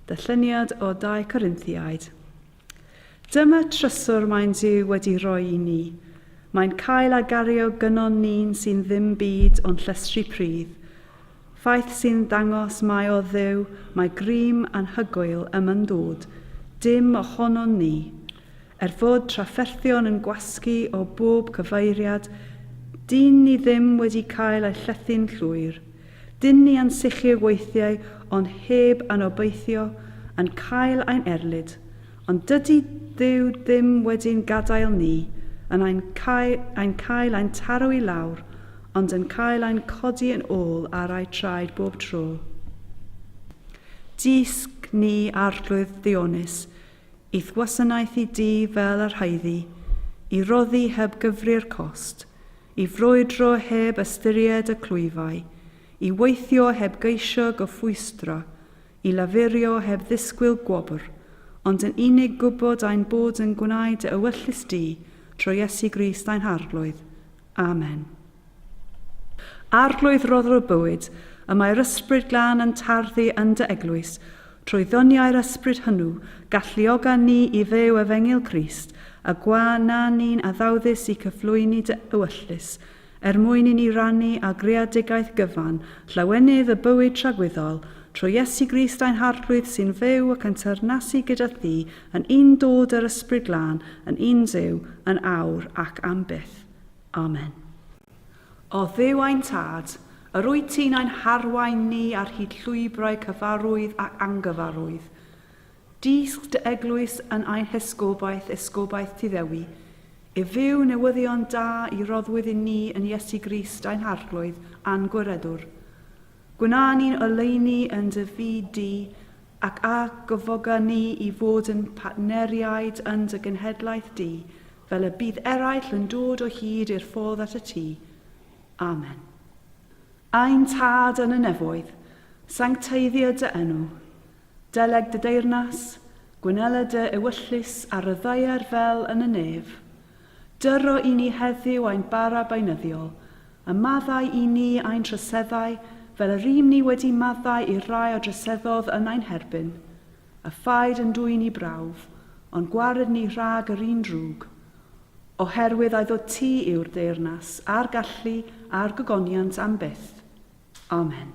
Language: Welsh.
Darlleniad o 2 Corinthiaid. Dyma trysor mae'n Duw wedi rhoi i ni. Mae'n cael a gario gynon ni'n sy'n ddim byd ond llestri pridd. Ffaith sy'n dangos mai o Dduw mae grym anhygoel ym yndod, dim ohonon ni. Er fod trafferthion yn gwasgu o bob cyfeiriad, dyn ni ddim wedi cael ei llethu'n llwyr. Dyn ni ansicr weithiau ond heb anobeithio, yn cael ein erlid, Ond dydy Duw ddim wedi'n gadael ni yn ein cael, ein cael ein taro i lawr, ond yn cael ein codi yn ôl ar ei traed bob tro. Dysg ni, Arglwydd Ddionys, i'th wasanaethu di fel yr haeddu, i roddi heb gyfri'r cost, i frwydro heb ystyried y clwyfau, i weithio heb geisio gyfwysdra, I lafurio heb ddisgwyl gwobr, ond yn unig gwybod ein bod yn gwneud dy ewyllys di, trwy Iesu Grist ein Harglwydd. Amen. Arglwydd Rhoddwr y Bywyd, y mae'r Ysbryd Glân yn tarddu yn dy Eglwys, trwy ddoniau'r Ysbryd hwnnw, galluoga ni i fyw Efengyl Crist, a gwa na ni'n addawdus i cyflwyni dy ewyllys, er mwyn i ni rannu â greadigaeth gyfan llawenydd y bywyd tragwyddol, trwy Iesu Grist ein Harglwydd sy'n fyw ac yn teyrnasu gyda thi yn un dod yr Ysbryd Glân yn un Dduw yn awr ac am byth. Amen. O Dduw ein Tad, yr wyt ti'n ein harwain ni ar hyd llwybrau cyfarwydd ac angyfarwydd, Dysg dy eglwys yn ein hesgobaeth, esgobaeth Tŷ Ddewi, i fyw newyddion da i roddwyd i ni yn Iesu Grist ein Harglwydd a'n Gwiredwr. Gwna ni'n oleuni yn dy fyd di, ac a gyfoga ni i fod yn partneriaid yn dy genhedlaeth di, fel y bydd eraill yn dod o hyd i'r ffordd at y Tŷ. Amen. Ein Tad yn y Nefoedd, sancteiddio dy enw. Deleg dy deyrnas, gwynela dy ewyllys a ryddhauer fel yn y nef. Dyro i ni heddiw ein bara beunyddiol, a maddau i ni ein troseddau fel y rym ni wedi maddau i'r rhai a droseddodd yn ein herbyn. A phaid yn dwyn i brawf, ond gwared ni rhag yr un drwg. Oherwydd aiddo ti yw'r deyrnas, a'r gallu, a'r gogoniant am byth. Amen.